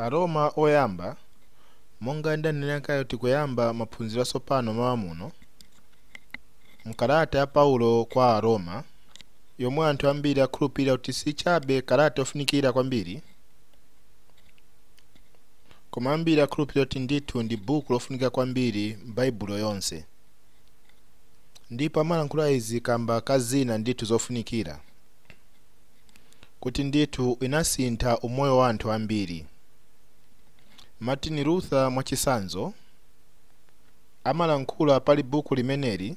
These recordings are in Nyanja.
Aroma oyamba, Monga ndanena kale tikuyamba maphunziro atsopano m'mawa muno, m'kalata ya Paulo kwa Aroma, yomwe anthu ambiri akhulupirira kuti si chabe kalata yofunikira kwambiri, koma ambiri akhulupirira kuti ndithu ndi buku lofunika kwambiri m'Baibulo yonse. Ndipo amalankhula izi kamba ka zina ndithu zofunikira. kuti ndithu inasintha umoyo wa anthu ambili. Martin Luther mwacitsanzo, amalankhula pali buku limeneli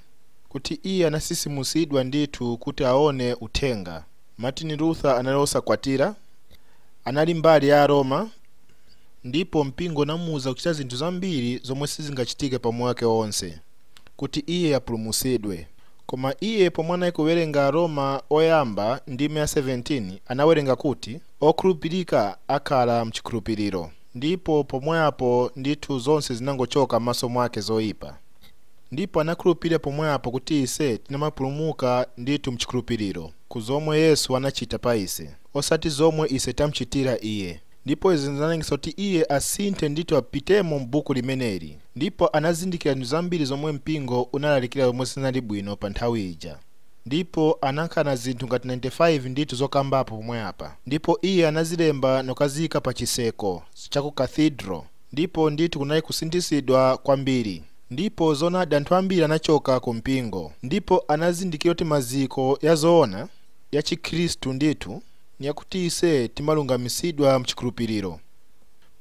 kuti iye anasitsimutsidwa ndithu kuti aone uthenga. Martin Luther anali wosakwatila, anali mbali ya Aroma, ndipo mpingo unamuuza kucita zinthu zambili zomwe sizingacitike pa umoyo wake wonse kuti iye apulumutsidwe. Koma iye pomwe anali kuwerenga Aroma oyamba ndime ya 17, anawerenga kuti, Okhulupirika akhala m'chikhulupiriro. Ndipo pomwe apo ndithu zonse zinangochoka m'maso mwake zoipa. Ndipo anakhulupirira pomwe apo kuti ise tinamapulumuka ndithu m'chikhulupiriro, ku zomwe Yesu anachita pa ise, osati zomwe ise tamchitira Iye. Ndipo izi zinalengesa kuti iye asinthe ndithu apitemo m'buku limeneli, ndipo anazindikira zinthu zambiri zomwe mpingo unalalikira zomwe sizinali bwino pa nthawi ija. Ndipo anakhala na zinthu ngati 95 ndithu zokambapo pomwe apa, ndipo iye anazilemba nokaziika pa chiseko cha ku Cathedral, ndipo ndithu kunali kusinthisidwa kwambiri. Ndipo zoonadi anthu ambiri anachoka ku mpingo ndipo anazindikira kuti maziko ya zoona, ya Chikhristu ndithu, ni yakuti ise timalungamitsidwa m'cikhulupililo,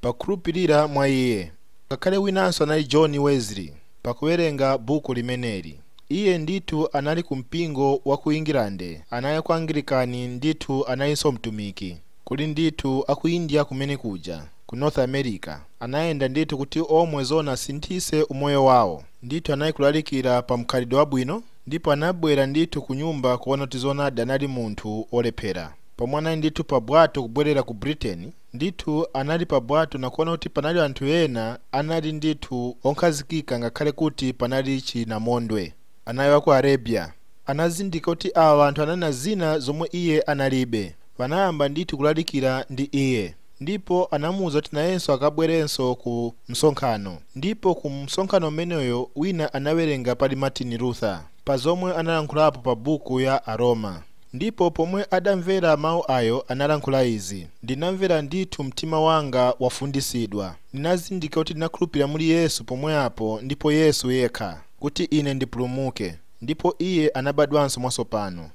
pa kukhulupilila mwa iye. Ngakhale winanso anali John Wesley, pa kuwelenga buku limeneli, iye ndithu anali ku mpingo wa ku England, anali ku Angilikani, ndithu analinso mtumiki, kuli ndithu a ku India kumene kuja, ku North America, anayenda ndithu kuti omwe zoona asinthise umoyo wawo, ndithu anali kulalikila pa mkhalidwe wabwino. Ndipo anabwera ndithu kunyumba kuona kuti zoonadi anali munthu olephera. Pomwe anali ndithu pa bwato kubwerera ku Britain, ndithu anali pa bwato na kuona kuti panali anthu ena anali ndithu onkhazikika ngakhale kuti panali chinamondwe. Anali waku Arabia. Anazindika kuti awa anthu anali na zina zomwe iye analibe. Banayamba ndithu kulalikira ndi iye. Ndipo anamuuza kuti nayenso akabwerenso ku msonkhano. Ndipo ku msonkhano umeneyo wina anawerenga pali Martin Luther, pa zomwe analankhulapo pa buku ya Aroma. Ndipo pomwe adamvera mau ayo analankhula izi, ndinamvera ndithu mtima wanga wafunditsidwa. Ndinazindika kuti ndinakhulupilira muli Yesu pomwe apo ndipo Yesu yekha, kuti ine ndipulumuke. Ndipo iye anabadwanso mwatsopano.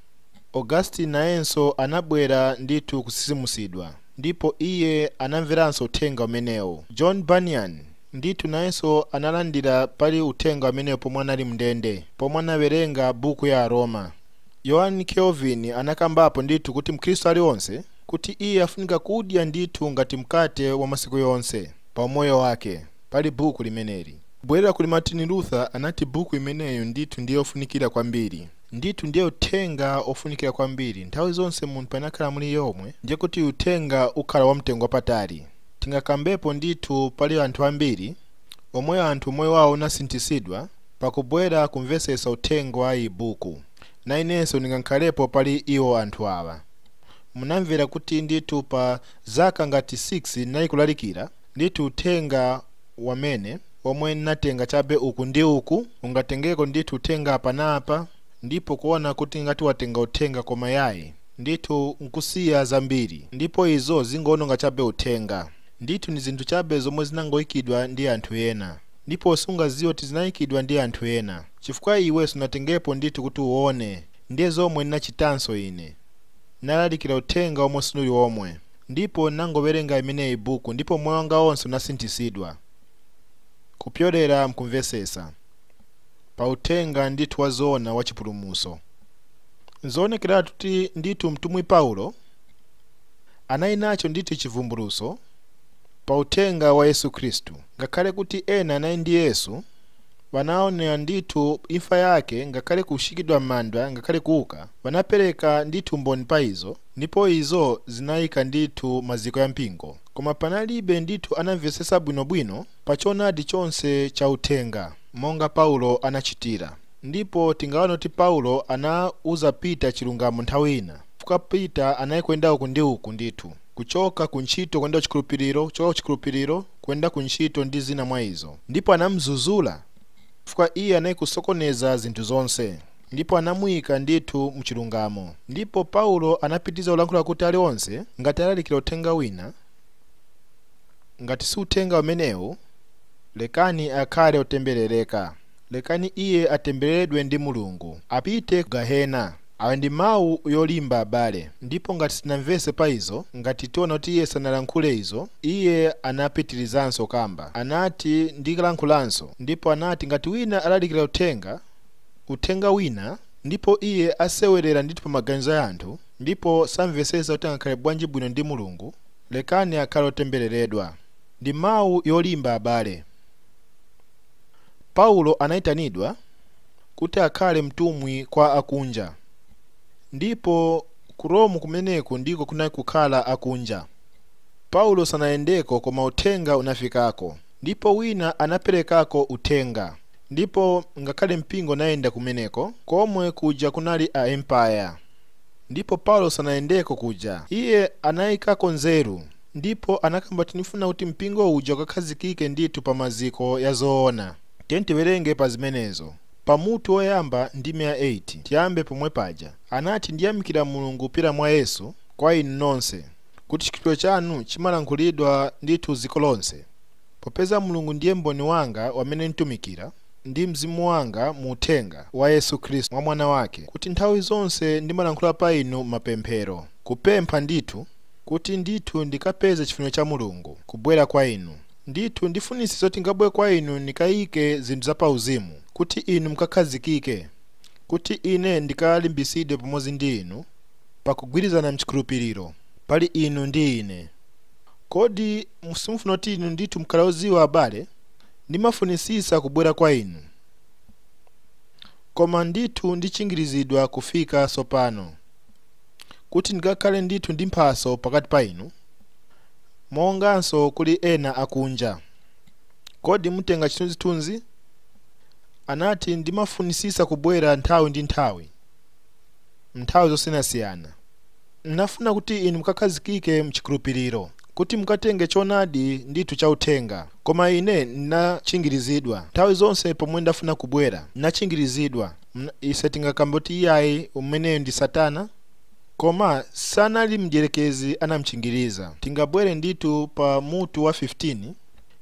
Augustine nayenso anabwera ndithu kusisimusidwa, ndipo iye anamveranso Uthenga umenewo. John Bunyan, ndithu, nayenso analandira pali Uthenga umenewo pomwe anali mndende, pomwe anawerenga Buku ya Aroma. Yohane Kelvin anakambapo ndithu kuti Mkhristu alionse, kuti iye afunika kudya ndithu ngati mkate wa masiku yonse pa umoyo wake, pali Buku limeneli. Kubwerera kuli Martin Luther, anati Buku imeneyo ndithu ndi yofunikira kwambiri. Ndithu ndiye uthenga ofunikira kwambiri nthawi zonse munthu panakhala muli yomwe ndiye kuti uthenga ukhala wa mtengo wapatali tingakambepo ndithu pali anthu ambiri omwe anthu umoyo wawo unasinthisidwa pakubwera kumvesesa uthenga wa iyi buku na inenso ningakhalepo pali iwo anthu awa munamvera kuti ndithu pa zaka ngati 6 nali kulalikira Ndithu uthenga wamene, omwe nnatenga chabe uku ndi uku, ungatengeko ndithu uthenga apa na apa, ndipo kuona kuti ngati watenga uthenga koma yayi, ndithu nkusiya zambiri, ndipo izo zingoononga chabe uthenga. Ndithu ni zinthu chabe zomwe zinangoikidwa ndi anthu ena, ndipo sungaziwe kuti zinaikidwa ndi anthu ena, chifukwa iwe sunatengepo ndithu kuti uone, ndiye zomwe nnachitanso ine, nalalikira uthenga omwe sinuli omwe. Ndipo ndinangowerenga imeneyi buku ndipo moyo wanga onse unasinthisidwa kupyolera mkumvesesa pa uthenga ndithu wa zoona wa chipulumuso. Nzoonekeratu kuti ndithu mtumwi Paulo anali nacho ndithu chivumbuluso pa uthenga wa Yesu Khristu. Ngakhale kuti ena anali ndi Yesu banaonera ndithu imfa yake ngakhale kushikidwa m'manda ngakhale kuuka banapereka ndithu umboni pa izo. Ndipo izo zinaika ndithu maziko ya mpingo, koma panalibe ndithu anamvesesa bwino bwino pa choonadi chonse cha uthenga monga Paulo anachitira. Ndipo tingaone kuti Paulo anauza Peter chilungamo nthawi ina, chifukwa Peter anali kuyenda uku ndi uku ndithu, kuchoka ku ntchito kuyenda ku chikhulupiliro, kuchoka ku chikhulupiliro kuyenda ku ntchito ndi zina mwa izo, ndipo anamuzuzula chifukwa iye anali kusokoneza zinthu zonse. ndipo anamuyika ndithu mu chilungamo. Ndipo Paulo anapitiriza kulankhula kuti ali onse, ngati alalikira uthenga wina, ngati si uthenga umenewu, lekani akhale otemberereka, lekani iye atembereredwe ndi Mulungu, apite ku gahena. Awa ndi mawu yolimba, abale. Ndipo ngati sitinamvese pa izo, ngati tiona kuti iye sanalankhule izo, iye anapitirizanso kukamba, anati, ndikalankhulanso, ndipo anati, ngati wina alalikira uthenga, uthenga wina ndipo iye asewerera ndithu pa maganizo ya anthu ndipo samvetsetsa kuti angakhale bwanji bwino ndi Mulungu, lekani akhale otembereredwa. Ndi mau yolimba abale. Paulo anaitanidwa kuti akhale mtumwi kwa akunja ndipo ku Rome kumeneku ndiko kunali kukhala akunja. Paulo sanayendeko koma uthenga unafikako. Ndipo wina anaperekako uthenga, ndipo ngakhale mpingo unayenda kumeneko, komwe kuja kunali a Empire. Ndipo Paulo sanayendeko kuja, iye anayikako nzeru, ndipo anakamba kuti ndifuna kuti mpingo uja ukakhazikike ndithu pa maziko ya zoona. Tiyeni tiwerenge pa zimenezo, pa mutu woyamba, ndime ya 8, tiyambe pomwe paja. Anati, Ndiyamikira Mulungu kupyolera mwa Yesu, kwa inu nonse. kuti chikhulupiriro chanu chimalankhulidwa ndithu dziko lonse, popeza Mulungu ndiye mboni wanga amene ntumikira ndi mzimu wanga mu uthenga wa Yesu Kristu mwa Mwana wake, kuti nthawi zonse ndimalankhula pa inu m'mapemphero, kupempha ndithu kuti ndithu ndikapeze chifuniro cha Mulungu, kubwera kwa inu. Ndithu ndifunitsitsa zoti nkabwere kwa inu nikaike zinthu za pa uzimu, kuti inu mkakhazikike, kuti ine ndikalimbitsidwe pamodzi ndi inu, pa kugwirizana m'chikhulupiriro, pali inu ndi ine. Kodi simufuna kuti inu ndithu mukhale odziwa, abale? Ndimafunitsitsa kubwera kwa inu, koma ndithu ndichingirizidwa kufika tsopano, kuti ndikakhale ndithu ndi mphatso pakati pa inu, monganso kuli ena akunja. Kodi mutenga chithunzithunzi? Anati, Ndimafunitsitsa kubwera nthawi ndi nthawi. nthawi zosiyanasiyana. N'nafuna kuti inu mukakhazikike m'chikhulupiriro, kuti mukatenge choonadi ndithu cha uthenga. Koma ine n'nachingirizidwa. Nthawi zonse pomwe ndafuna kubwera, n'nachingirizidwa. Ise tingakambe kuti iyayi, umeneyo ndi Satana? Koma sanali Mdyelekezi anam'chingiriza. Tingabwere ndithu pa mutu wa 15,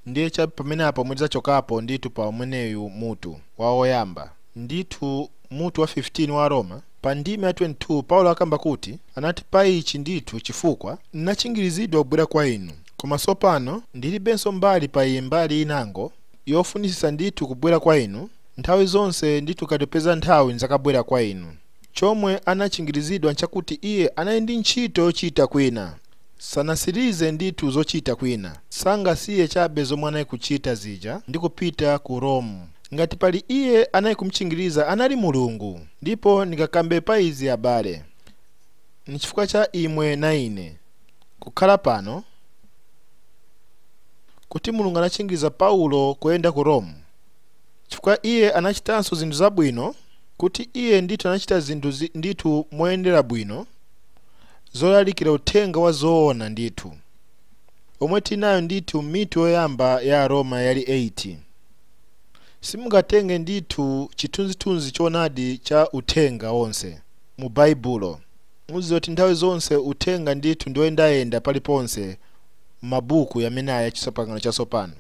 ndiye cha pameneapa pomwe tidzachokapo ndithu pa umeneyu mutu, wa woyamba. Ndithu. mutu wa 15 wa Aroma, pa ndime ya 22, Paulo akamba kuti, Anati, Pa ichi ndithu chifukwa n'nachingirizidwa kubwera kwa inu, koma tsopano ndiribenso mbali pa iyi mbali inango, yofunitsitsa ndithu kubwera kwa inu, nthawi zonse ndithu tikapeza nthawi n'dzakabwera kwa inu. Chomwe anachingirizidwa n'chakuti iye anali ndi ntchito yochita kwina, sanatsirize ndithu zochita kwina, sangasiye chabe zomwe anali kuchita zija ndi kupita ku Rome. ngati pali iye anali kumtchingiriza anali mulungu ndipo ndikakambe pa izi abale nchifukwa cha imwe na ine kukhala pano kuti mulungu anatchingiriza paulo kuyenda ku roma chifukwa iye anachitanso zinthu zabwino kuti iye ndithu anachita zinthu zi- ndithu moyendera bwino zolalikira uthenga wa zoona ndithu omwe tinayo ndithu m'mitu yoyamba ya aroma yali 8 Simungatenge ndithu chithunzithunzi choonadi cha uthenga wonse mu Baibulo. Muziwe kuti nthawi zonse uthenga ndithu ndioyendayenda pali ponse m'mabuku yamene aya chipangano chasopano.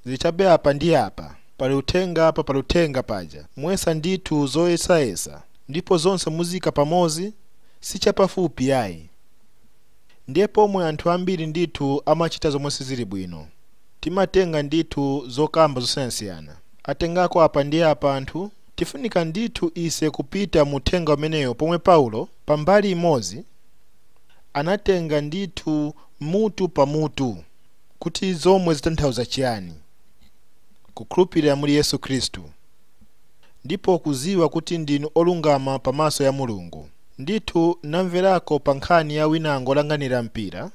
Zili chabe apa ndi apa, pali uthenga apa pali uthenga paja. Muyesa ndithu zoyesayesa ndipo zonse muziika pamozi, sichapafupi yayi. Ndiye pomwe anthu ambiri ndithu amachita zomwe sizili bwino. timatenga ndithu zokamba zosiyanasiyana. Atengako apa ndi apa anthu, tifunika ndithu ise kupita mu uthenga umeneyo pomwe Paulo, pa mbali imodzi, anatenga ndithu mutu pa mutu kuti zomwe zitanthauza chiyani kukhulupirira muli Yesu Khristu ndipo kuziwa kuti ndinu olungama pa maso ya Mulungu. Ndithu namverako pa nkhani ya winango olanganira mpira,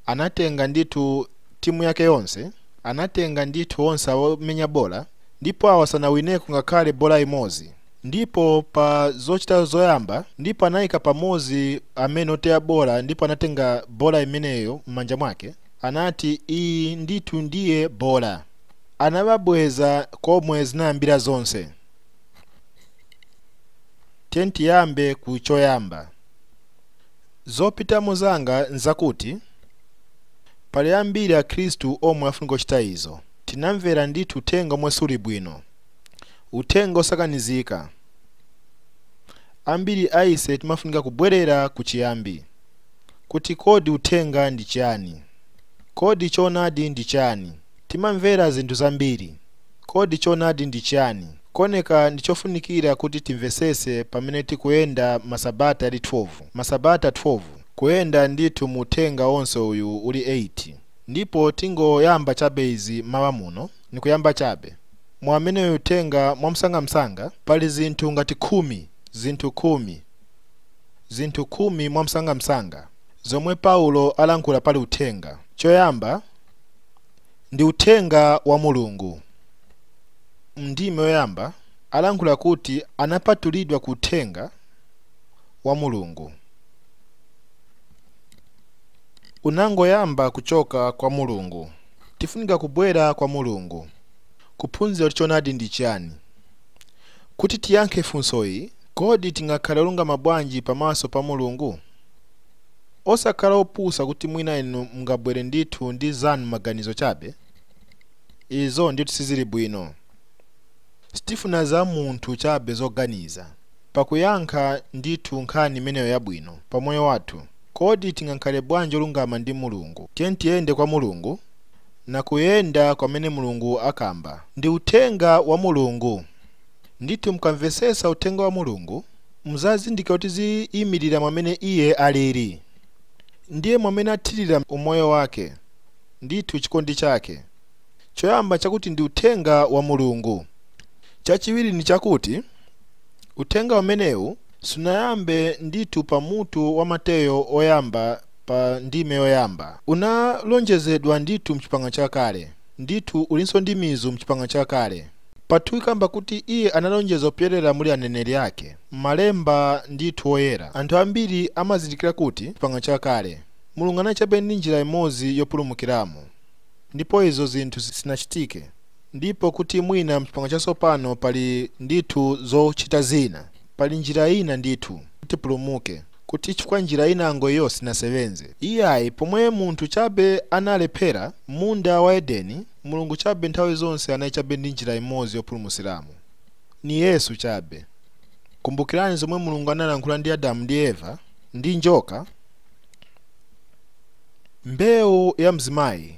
anatenga ndithu. timu yake yonse, anatenga ndithu onse awomenya bola ndipo awa sanawineko ngakhale bola imodzi ndipo pa zochita zoyamba ndipo anayika pamozi amene oteya bola ndipo anatenga bola imeneyo m'manja mwake anati iyi ndithu ndiye bola anababweza komwe zinayambira zonse tiyeni tiyambe ku choyamba Zopitamo zanga nzakuti, pali ambiri Akhristu omwe afunika kuchita izo. Tinamvera ndithu uthenga omwe suli bwino, uthenga osakanizika. Ambiri a ise timafunika kubwerera ku chiyambi, kuti kodi uthenga ndi chani? Kodi choonadi ndi chani? Timamvera zinthu zambiri. Kodi choonadi ndi chani? Kuoneka ndi chofunikira kuti timvesese pamene tikuyenda masabata yali 12. Masabata 12? Kuyenda ndithu mu uthenga onse uyu uli 8. Ndipo tingoyamba chabe izi m'mawa muno, ni kuyamba chabe. Mwamene uyu uthenga mwamsangamsanga, pali zinthu ngati khumi, zinthu khumi, zinthu khumi mwamsangamsanga zomwe Paulo alankhula pali uthenga. Choyamba. ndi uthenga wa Mulungu. M'ndime yoyamba alankhula kuti anapatulidwa ku uthenga wa Mulungu. Unangoyamba kuchoka kwa Mulungu. Tifunika kubwera kwa Mulungu kuphunzira kuti choonadi ndi chiyani. Kuti tiyankhe funsoyi, kodi tingakhale olungama bwanji pamaso pa Mulungu? Osakhala opusa kuti mwina inu mungabwere ndithu ndi zanu maganizo chabe. Izo ndithu sizili bwino. Sitifuna za munthu chabe zoganiza pakuyankha ndithu nkhani imeneyo yabwino pamoyo wathu. Kodi tingakhale bwanji olungama ndi Mulungu? Tiyeni tiyende kwa Mulungu na kuyenda kwamene Mulungu akamba ndi uthenga wa Mulungu. ndithu mukamvetsetsa uthenga wa mulungu muzazindikira kuti ziyimirira mwamene iye alili ndiye mwamene athirira umoyo wake ndithu chikondi chake choyamba chakuti ndi uthenga wa mulungu chachiwiri ndi chakuti uthenga umenewu sunayambe ndithu pa mutu wa mateyo oyamba pa ndime yoyamba unalonjezedwa ndithu mchipangano chakale ndithu ulinso ndi mizu mchipangano chakale Pa 2 ikamba kuti iye analonjeza kupyolera muli aneneri ake. M'malemba ndithu oyera, anthu ambiri amazindikira kuti m'Chipangano Chakale, Mulungu anali chabe ndi njira imodzi yopulumukiramo, ndipo izo zinthu sizinachitike, ndipo kuti mwina m'Chipangano Chatsopano pali ndithu zochita zina, pali njira ina ndithu kuti tipulumuke, kuti chifukwa njira inango iyo sinasebenze. Iyayi, pomwe munthu chabe analephera m'munda wa Edeni, Mulungu chabe nthawi zonse anali chabe ndi njira imodzi yopulumutsiramo. Ni Yesu chabe. Kumbukirani zomwe Mulungu analankhula ndi Adamu ndi Eva, ndi njoka? Mbeu ya mzimayi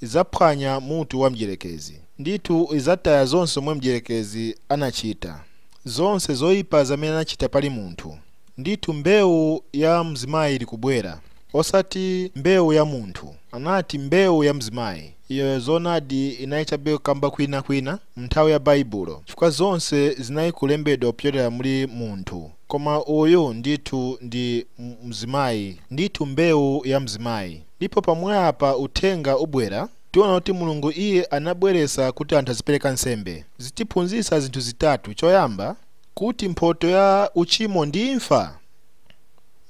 izaphwanya mutu wa mdyerekezi. Ndithu izataya zonse zomwe mdyerekezi anachita, zonse zoipa zamene anachita pali munthu. Ndithu mbewu ya mzimayi ili kubwera. Osati mbewu ya munthu. Anati mbewu ya mzimayi. Iyo zoonadi inali chabe kukamba kwina kwina m'nthawi ya Baibulo, chifukwa zonse zinali kulembedwa kupyolera muli munthu. Koma uyu ndithu ndi mzimayi. Ndithu mbewu ya mzimayi. Ndipo pomwe apa Uthenga ubwera, tiona kuti Mulungu Iye anabweretsa kuti anthu azipereka nsembe. Zitiphunzitsa zinthu zitatu. Choyamba. Kuti mphoto ya uchimo ndi imfa?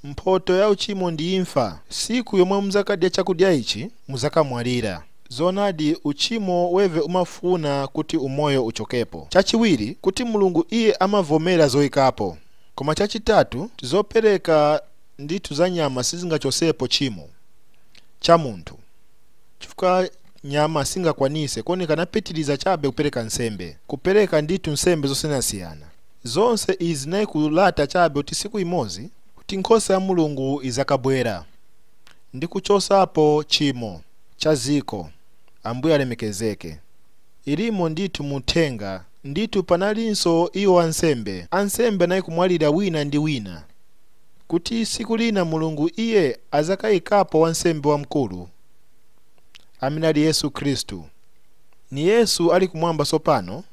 Mphoto ya uchimo ndi imfa. Siku yomwe muzakadya chakudya ichi, muzakamwalira. Zoonadi uchimo weve umafuna kuti umoyo uchokepo. Chachiwiri, kuti Mulungu iye amavomera zoikapo. Koma chachitatu, kuti zopereka ndithu za nyama sizingachosepo chimo cha munthu. chifukwa nyama singakwanise kuoneka anapitiliza chabe kupereka nsembe kupereka ndithu nsembe zosiyanasiyana zonse izi nayikulata chabe kuti siku imozi kuti nkhosa ya mulungu izakabwera ndi kuchosapo chimo cha ziko ambuye alemekezeke ilimo ndithu muthenga ndithu panalinso iwo ansembe ansembe nayikumwalira wina ndi wina kuti siku lina mulungu iye azakayikapo wansembe wamkulu amene ali Yesu Khristu. Ni Yesu ali kumwamba sopano.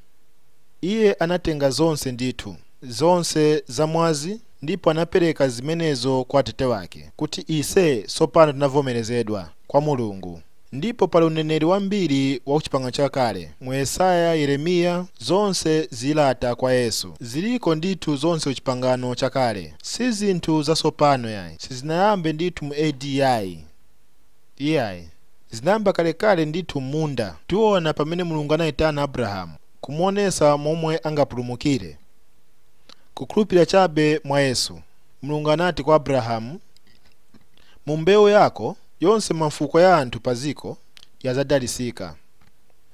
Iye anatenga zonse ndithu, zonse za mwazi ndipo anapereka zimenezo kwa Atate wake kuti ise sopano tinavomerezedwa kwa Mulungu. Ndipo pali uneneri wambiri wa ku Chipangano Chakale, mu Yesaya, Yeremiya, zonse zilata kwa Yesu. Ziliko ndithu zonse ku Chipangano Chakale. Si zinthu zasopano yayi. Sizinayambe ndithu mu A.D. yayi. Iyayi. Zinayamba kalekale ndithu m'munda. Tiona pamene Mulungu anaitana Abrahamu kumuonesa momwe angapulumukire. Kukhulupirira chabe mwa Yesu. Mulungu anati kwa Abrahamu, Mu mbeu yako yonse mafuko ya anthu pa dziko yazadalisika.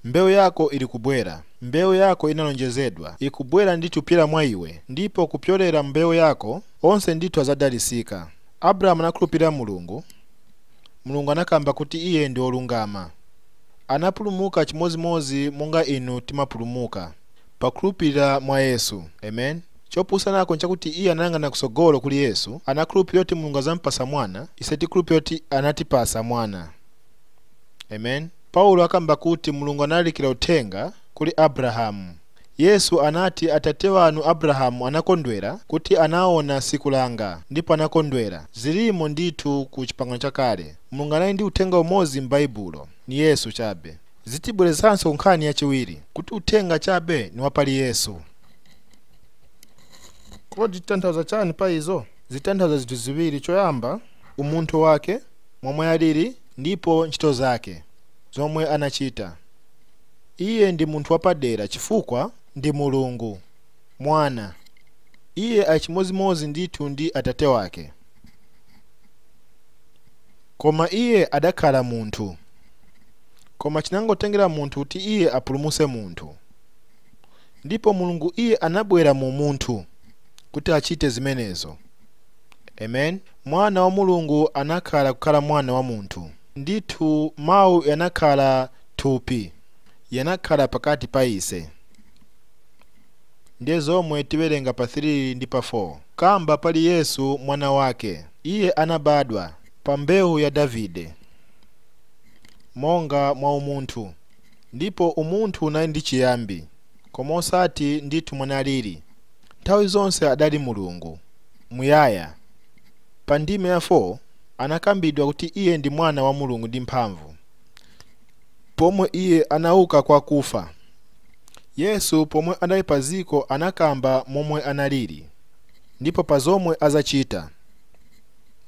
Mbeu yako iri kubwera. Mbeu yako inalonjezedwa ikubwera ndithu pyera mwa iwe ndipo kupyolera m'mbeu yako onse ndithu azadalisika. Abrahamu anakhulupirira Mulungu, Mulungu anakamba kuti iye ndi olungama. Anapulumuka chimodzimodzi monga inu timapulumuka, pakhulupirira mwa Yesu. Amen. Choposanako nchakuti iye anayang'ana kusogolo kuli Yesu, anakhulupirira kuti Mulungu azampasa mwana, ise tikhulupirira kuti anatipasa mwana. Amen. Paulo akamba kuti Mulungu analalikira uthenga kuli Abrahamu. Yesu anati, Atate wanu Abrahamu anakondwera kuti anaona siku langa, ndipo anakondwera. Zirimo ndithu ku Chipangano Chakale. Mulungu anali ndi uthenga umodzi m'Baibulo, ni Yesu chabe. Zitibwerezanso ku nkhani yachiwiri, kuti uthenga chabe ni wa pali Yesu. Kodi zitanthauza chani pa izo? Zitanthauza zinthu ziwiri, choyamba, umunthu wake, momwe alili, ndipo ntchito zake, zomwe anachita. Iye ndi Munthu wapadera, chifukwa ndi Mulungu, Mwana. Iye ali chimozimozi ndithu ndi Atate Wake. Koma Iye adakhala Munthu. Koma chinangotengera munthu kuti Iye apulumuse munthu. Ndipo Mulungu Iye anabwera mu umunthu kuti achite zimenezo. Amen. Mwana wa Mulungu anakhala kukhala Mwana wa munthu. Ndithu Mau yanakhala thupi, yanakhala pakati pa ise. Ndiye zomwe tiwerenga pa 3 ndi pa 4. Kamba pali Yesu mwana wake. Iye anabadwa, pa mbewu ya Davide, monga mwa umunthu, ndipo umunthu unali ndi chiyambi, koma osati ndithu momwe analili, nthawi zonse adali Mulungu, muyaya. Pa ndime ya 4. anakambidwa kuti Iye ndi Mwana wa Mulungu ndi mphamvu. Pomwe Iye anauka kwa kufa, Yesu pomwe anali pa dziko anakamba momwe analili ndipo pa zomwe azachita.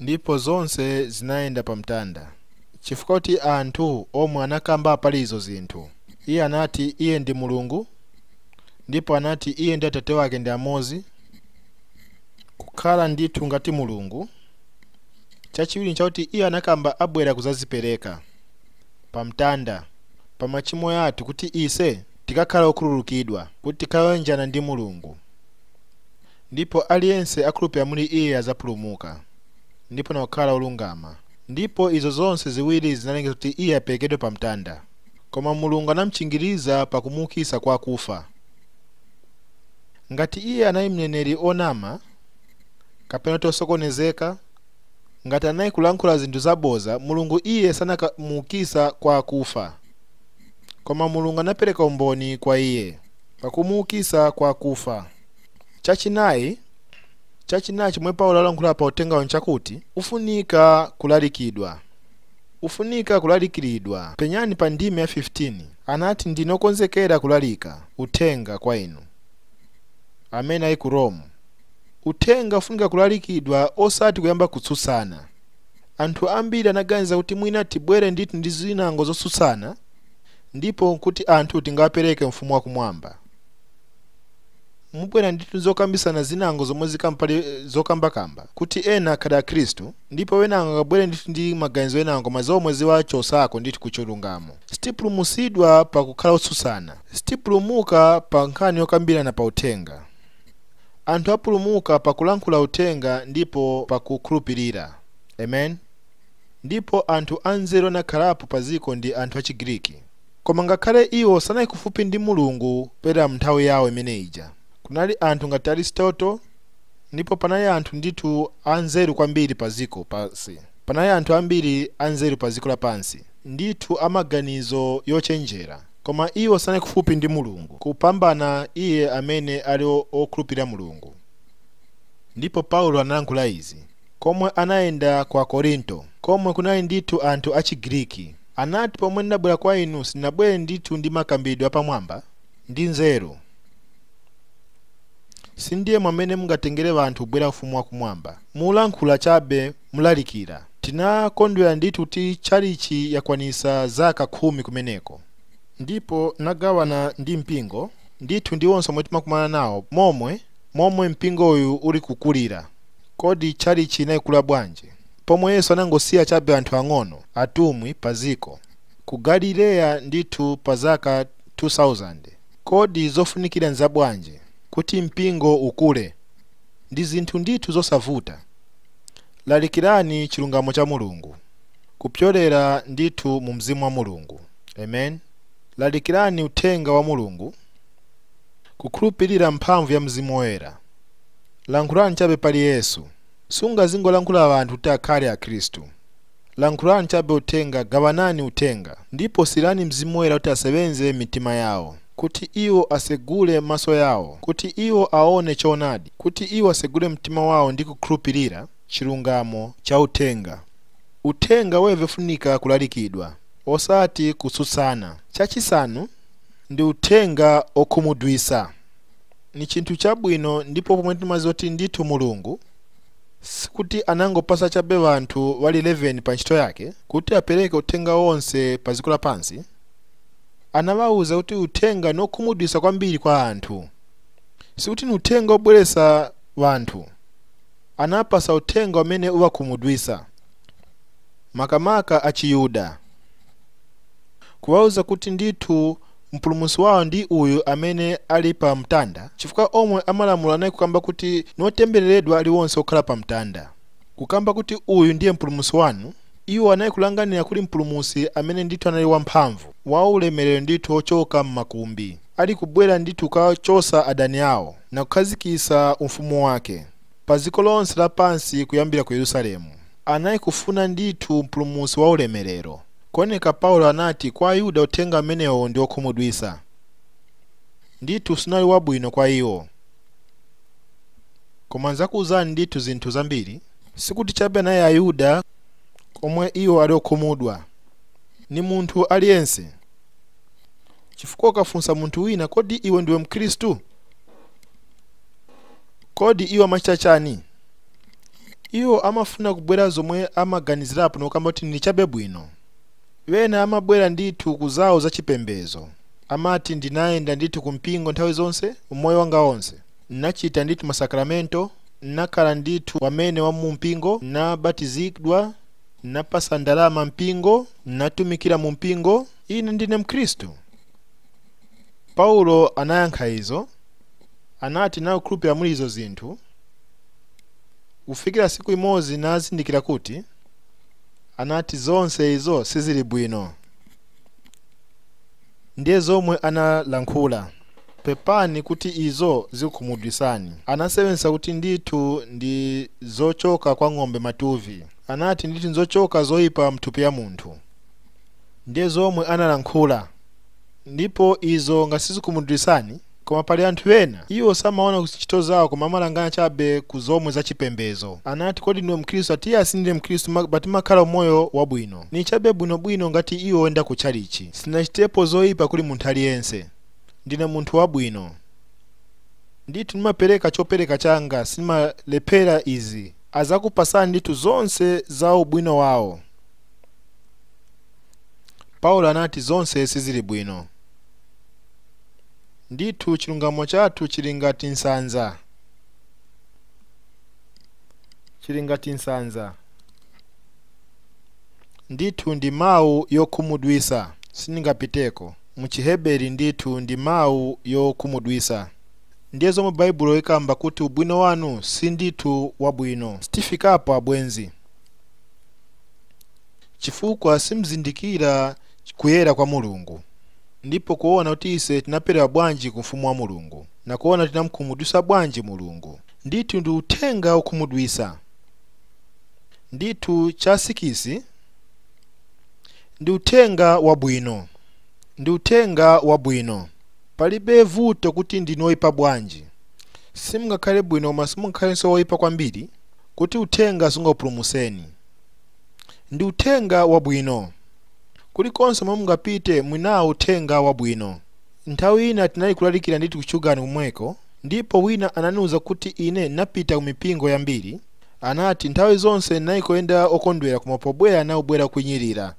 Ndipo zonse zinayenda pa mtanda chifukwa chakuti anthu omwe anakamba pali izo zinthu. Iye anati Iye ndi Mulungu ndipo anati Iye ndi Atate wake ndi amozi, kukhala ndithu ngati Mulungu. chachiwiri nchakuti iye anakamba abwera kuzazipereka pa mtanda pa machimo yathu kuti ise tikakhala okhululukidwa kuti tikayanjana ndi mulungu ndipo aliyense akhulupira muli iye azapulumuka ndipo nakukhala olungama ndipo izo zonse ziwiri zinalengeza kuti iye aperekedwe pa mtanda koma mulungu anamchingiriza pa kumuukisa kwa kufa ngati iye anali mneneri onama kapena mutu osokonezeka ngati anali kulankhula zinthu zaboza mulungu iye sanakamuukisa kwa kufa koma mulungu anapereka umboni kwa iye pakumuukisa kwa kufa chachinayi chomwe paulo alankhula pa uthengawo nchakuti ufunika kulalikiridwa penyani pa ndime ya 15 anati ndinokonzekera kulalika uthenga kwa inu Amene ali ku Rome, uthenga ufunika kulalikidwa osati kuyamba kutsutsana. Anthu ambiri anaganiza kuti mwina tibwere ndithu ndi zinango zotsutsana ndipo kuti anthu tingawapereke mu Ufumu wa Kumwamba. Mubwera ndithu ndi zokambisana zinango zomwe zikamba pali zokambakamba kuti ena akhale Akristu ndipo wenango angabwere ndithu ndi maganizo enango koma zomwe ziwachosako ndithu ku chilungamo. Sitipulumusidwa pa kukhala otsutsana. Sitipulumuka pa nkhani yokambirana pa uthenga. Anthu apulumuka pa kulankhula uthenga ndipo pa kuukhulupirira. Amen. Ndipo anthu anzeru anakhalapo pa dziko ndi anthu a Chigriki. Koma ngakhale iwo sanali kufupi ndi Mulungu kupyolera m'nthawi yao imene ija. Kunali anthu ngati Aristotle ndipo panali anthu ndithu anzeru kwambiri pa dziko pansi. Panali anthu ambiri anzeru pa dziko lapansi, ndithu a maganizo yochenjera, koma iwo sanali kufupi ndi Mulungu kupambana iye amene ali okhulupirira Mulungu. Ndipo Paulo analankhula izi komwe anayenda ku Akorinto, komwe kunali ndithu anthu a Chigiriki. Anati, Pomwe ndinabwera kwa inu sinabwere ndithu ndi makambidwe apamwamba ndi nzeru. Sindiye mwamene mungatengere banthu kubwera ufumu wa kumwamba, mulankhula chabe mlalikira. Tinakondwera ndithu kuti tchalitchi yakwanisa zaka khumi kumeneko. Ndipo nagawana ndi mpingo, ndithu ndi onse omwe timakumana nawo, momwe, momwe mpingo uyu uli kukulira. Kodi tchalitchi inaikula bwanji? Pomwe Yesu anangosiya chabe anthu ang'ono, atumwi, pa dziko. Ku Galileya ndithu pa zaka 2,000. Kodi zofunikira nzabwanji kuti mpingo ukule? Ndi zinthu ndithu zosavuta. Lalikirani chilungamo cha Mulungu kupyolera ndithu mu Mzimu wa Mulungu. Amen. Lalikirani uthenga wa Mulungu kukhulupirira m'mphamvu ya Mzimu Woyera. Lankhulani chabe pali Yesu. Sungazingolankhula anthu kuti akhale Akhristu. Lankhulani cabe uthenga, gawanani uthenga, ndipo siyirani Mzimu Woyera kuti asebenze m'mitima yao, kuti iwo asegule maso yao, kuti iwo aone coonadi, kuti iwo asegule mtima wao ndi kukhulupirira cilungamo ca uthenga. Uthenga weve ufunika kulalikidwa, osati kususana. Cacisanu ndi uthenga okhumudwisa. Ni cinthu cabwino ndipo pomwe timaziwa kuti ndithu Mulungu. Sikuti anangopasa chabe wanthu wali 11 pa ntchito yake kuti apereke uthenga onse pa dziko lapansi. Anawauza kuti uthenga nokhumudwisa kwambiri kwa anthu. Sikuti ni uthenga obweresa wanthu. Anawapasa uthenga umene uwakhumudwisa, makamaka a Chiyuda, kuwauza kuti ndithu mpulumusi wawo ndi uyu amene ali pa mtanda chifukwa omwe amalamulo anali kukamba kuti notembeleredwa aliwonse okhala pa mtanda kukamba kuti uyu ndiye mpulumusi wanu iwo anali kulanganira kuli mpulumusi amene ndithu anali wamphamvu wa ulemerero ndithu ochoka m'makumbi ali kubwera ndithu kuchosa adani awo na kukhazikisa umfumu wake padziko lonse lapansi kuyambira ku Yerusalemu. Anali kufuna ndithu Mpulumusi wa ulemerero. Kuoneka Paulo anati kwa Ayuda uthenga umenewo ndi wokhumudwisa. Ndithu sunali wabwino kwa iwo. Koma nzakuuzani ndithu zinthu zambiri. Sikuti chabe anali Ayuda komwe iwo ali okhumudwa. Ni munthu aliyense. Chifukwa ukafunsa munthu wina kodi iwe ndiwe mkhristu? Kodi iwo amachita chani? Iwo amafuna kubwera zomwe amaganizirapo nokamba kuti ndi chabe bwino. Wena amabwera ndithu ku zawo za chipembezo. Amati ndinayenda ndithu ku mpingo nthawi zonse umoyo wanga onse. Nnachita ndithu masakramento, nnakhala ndithu wamene wa mu mpingo, nnabatizidwa, nnapasa ndalama mpingo, nnatumikira mu mpingo, ine ndine mkhristu. Paulo anayankha izo, anati nakhulupirira muli izo zinthu, kufikira siku imodzi nazindikira kuti, anati zonse izo sizili bwino. Ndiye zomwe analankhula, pepani kuti izo zikukhumudwisani. Anasewenzesa kuti ndithu ndi zochoka kwa ng'ombe matuvi, anati ndithu nzochoka zoipa mthupi ya munthu. Ndiye zomwe analankhula. Ndipo izo ngati sizikukhumudwisani, koma pali anthu ena, iwo samawona ku zinchito zawo koma amalangana chabe ku zomwe za chipembezo. Anati, Kodi ndiwe Mkhristu? Ati, Iya, sindine Mkhristu, but timakhala umoyo wabwino. Ni chabe bwino bwino ngati iwo woyenda ku tchalichi. Sinachitepo zoipa kuli munthu aliyense. Ndine munthu wabwino. Ndithu ndimapereka chopereka changa, sinimalephera izi. Azakupasani ndithu zonse za ubwino wawo. Paulo anati zonse sizili bwino. Ndithu chilungamo chathu chili ngati nsanza, chili ngati nsanza. Ndithu ndi mawu yokhumudwisa, siningapiteko. Mu Chiheberi ndithu ndi mawu yokhumudwisa. Ndiye zomwe Baibulo ikamba kuti ubwino wanu si ndithu wabwino. Sitifikapo abwenzi. chifukwa simzindikira kuyera kwa Mulungu, ndipo kuona kuti ise tinaperewa bwanji ku ufumu wa Mulungu, na kuona tinamkhumudwisa bwanji Mulungu. Ndithu ndi uthenga okhumudwisa. Ndithu cha sikisi ndi uthenga wabwino. Ndi uthenga wabwino. Palibe vuto kuti ndinu oipa bwanji, simngakhale bwino koma simungakhalenso oipa kwambiri kuti uthenga sungakupulumuseni. Ndi Uthenga wabwino. Kulikonse komwe mungapite muli nawo Uthenga wabwino. Nthawi ina tinali kulalikira ndithu ku Chugani kumweko, ndipo wina ananiuza kuti ine napita ku mipingo yambiri, anati, nthawi zonse ndinali kuyenda okondwera koma pobwera nali kubwera okwinyirira.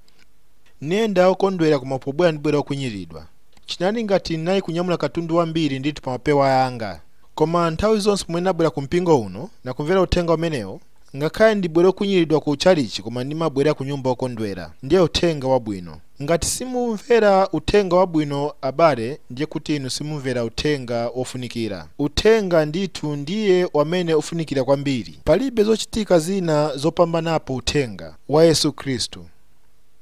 Nayenda okondwera koma pobwera ndibwera okwinyiriridwa. Chinali ngati ndinali kunyamula katundu wambiri ndithu pa mapewa anga. Koma nthawi zonse pomwe nabwera ku mpingo uno, nakumvera Uthenga umenewo, Ngakhale ndibwere wokwinyiridwa ku tchalitchi koma ndimabwera kunyumba wokondwera. Ndiye uthenga wabwino. Ngati simumvera uthenga wabwino abale ndiye kuti inu simumvera uthenga wofunikira. Uthenga ndithu ndiye wamene ufunikira kwambiri. Palibe zochitika zina zopambanapo uthenga wa Yesu Khristu.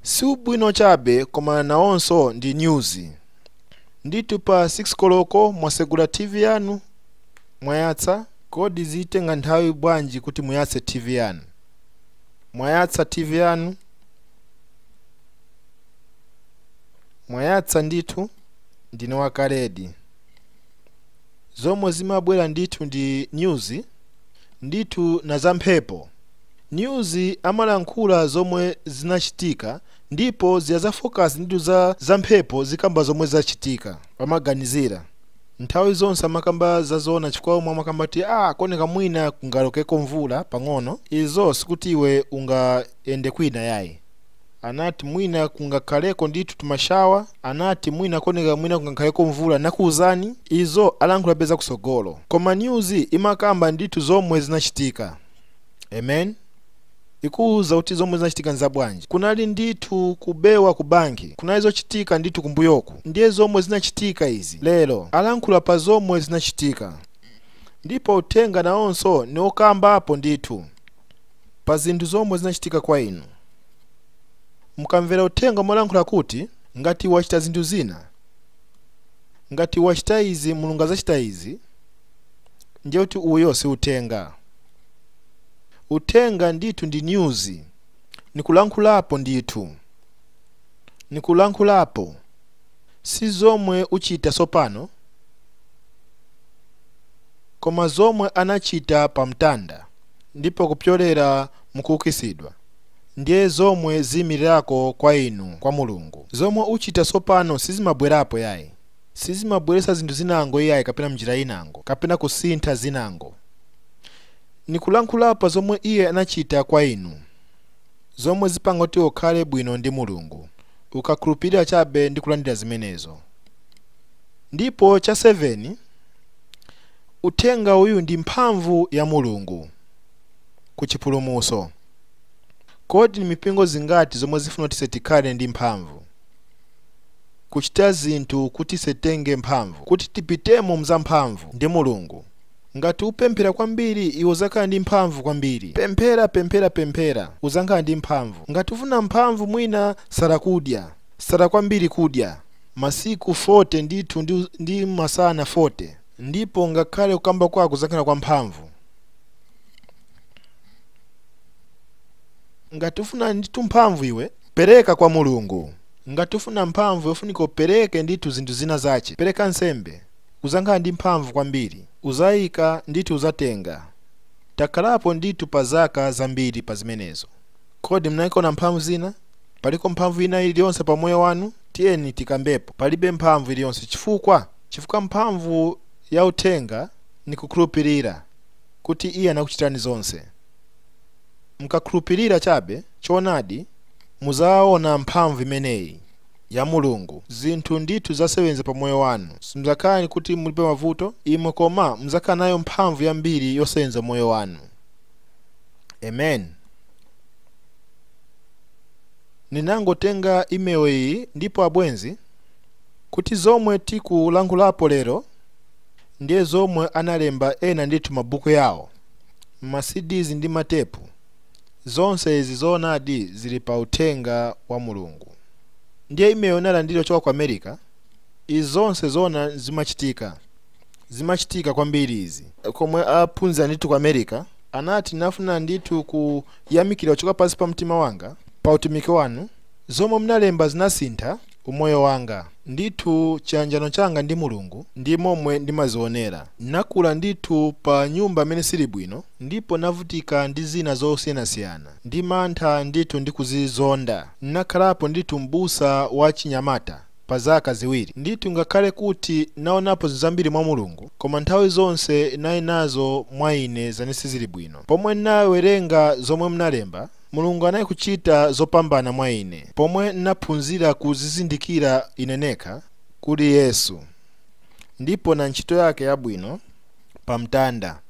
Si ubwino chabe koma nawonso ndi nyuzi. Ndithu pa 6 koloko mwasegula TV yanu mwayatsa. Kodi zitenga nthawi bwanji kuti muyatse TV yanu? Mwayatsa TV yanu? Mwayatsa ndithu? Ndine wakale di. Zomwe zimabwera ndithu ndi news ndithu na za mphepo. News amalankhula zomwe zinachitika ndipo ziya za focus ndithu za mphepo zikamba zomwe zachitika pamaganizira. Nthawi zonse amakamba za zoona chifukwa omwe amakamba kuti ah akoneka mwina kungalokeko mvula pang'ono izo sikuti iwe ungayende kwina yayi anati mwina kungakhaleko ndithu tumashawa anati mwina koneka mwina kungakhaleko mvula nakuuzani izo alankhulapo za kusogolo koma news imakamba ndithu zomwe zinachitika amen ikuuza kuti zomwe zinachitika nzabwanji kunali ndithu kubewa ku banki kunali zochitika ndithu kumbuyoku ndiye zomwe zinachitika izi lero alankhula pa zomwe zinachitika ndipo uthenga nawonso ni ukambapo ndithu pa zinthu zomwe zinachitika kwa inu mukamvera uthenga molankhula kuti ngati wachita zinthu zina ngati wachita izi mulungu azachita izi ndiye kuti uyo si uthenga Uthenga ndithu ndi news nikulankhulapo ndithu nikulankhulapo si zomwe uchita sopano koma zomwe anachita pa mtanda ndipo kupyolera mukuukisidwa ndiye zomwe ziyimilirako kwa inu kwa mulungu zomwe uchita sopano sizimabwerapo yayi sizimabweresa zinthu zinango iyayi kapena mnjira inango kapena kusintha zinango Nikulankhula pa zomwe iye anachita kwa inu, zomwe zipanga kuti ukhale bwino ndi Mulungu, ukakhulupirira chabe ndi kulandira zimenezo. Ndipo cha seveni, Uthenga uyu ndi mphamvu ya Mulungu ku chipulumutso. Kodi ni mipingo zingati zomwe zifuna kuti ise tikhale ndi mphamvu, kuchita zinthu kuti ise titenge mphamvu, kuti tipitemo mzamphamvu ndi Mulungu? Ngati upemphera kwambiri, iwe uzakhala ndi mphamvu kwambiri. Pemphera, pemphera, pemphera, uzankhala ndi mphamvu. Ngati ufuna mphamvu mwina sala kudya. Sala kwambiri kudya. Masiku 40 ndithu ndi, ndi masana 40. Ndipo ngakhale kukamba kwako kuzankhala kwa mphamvu. Ngati ufuna ndithu mphamvu iwe pereka kwa Mulungu. Ngati ufuna mphamvu iwe ufunika upereke ndithu zinthu zina zache. Pereka nsembe. uzankhala ndi mphamvu kwambiri uzaika ndithu uzatenga takhalapo ndithu pa zaka zambiri pa zimenezo kodi mnaiona mphamvu zina paliko mphamvu ina iliyonse pa moyo wanu tiyeni tikambepo palibe mphamvu iliyonse chifukwa chifukwa mphamvu ya uthenga ni kukhulupirira kuti iye anakuchitani zonse mkakhulupirira chabe choonadi muzaona mphamvu imeneyi ya mulungu zinthu ndithu zasewenza pa moyo wanu simzakhala ni kuti mulibe mavuto imwe koma muzakhala nayo mphamvu yambiri yosewenza moyo wanu amen ninangotenga email iyi ndipo abwenzi kuti zomwe tikulankhulapo lero ndiye zomwe analemba ena ndithu mabuku yawo ma cds ndi matepu Zonse izi zoonadi zili pa Uthenga wa Mulungu. Ndiye email nalandira kuchoka ku America. Izi zonse zoona zimachitika. Zimachitika kwambiri izi. Komwe aphunzira ndithu ku America, anati nafuna ndithu kuyamikira kuchoka pansi pa mtima wanga pa utumiki wanu. Zomwe munalemba zinasintha. umoyo wanga. Ndithu chiyanjano changa ndi Mulungu ndi momwe ndimazionera. Nakula ndithu pa nyumba imene sili bwino ndipo navutika ndi zina zosiyanasiyana ndi mantha ndithu ndi kuzizonda. Nakhalapo ndithu m'busa wa achinyamata pa zaka ziwiri. Ndithu ngakhale kuti naonapo zambiri mwa Mulungu koma nthawi zonse nali nazo mwa ine zamene sizili bwino. Pomwe nawerenga zomwe mnalemba Mulungu anali kuchita zopambana mwa ine pomwe naphunzira kuzizindikira ine nekha kuli Yesu ndipo na ntchito yake yabwino pa mtanda.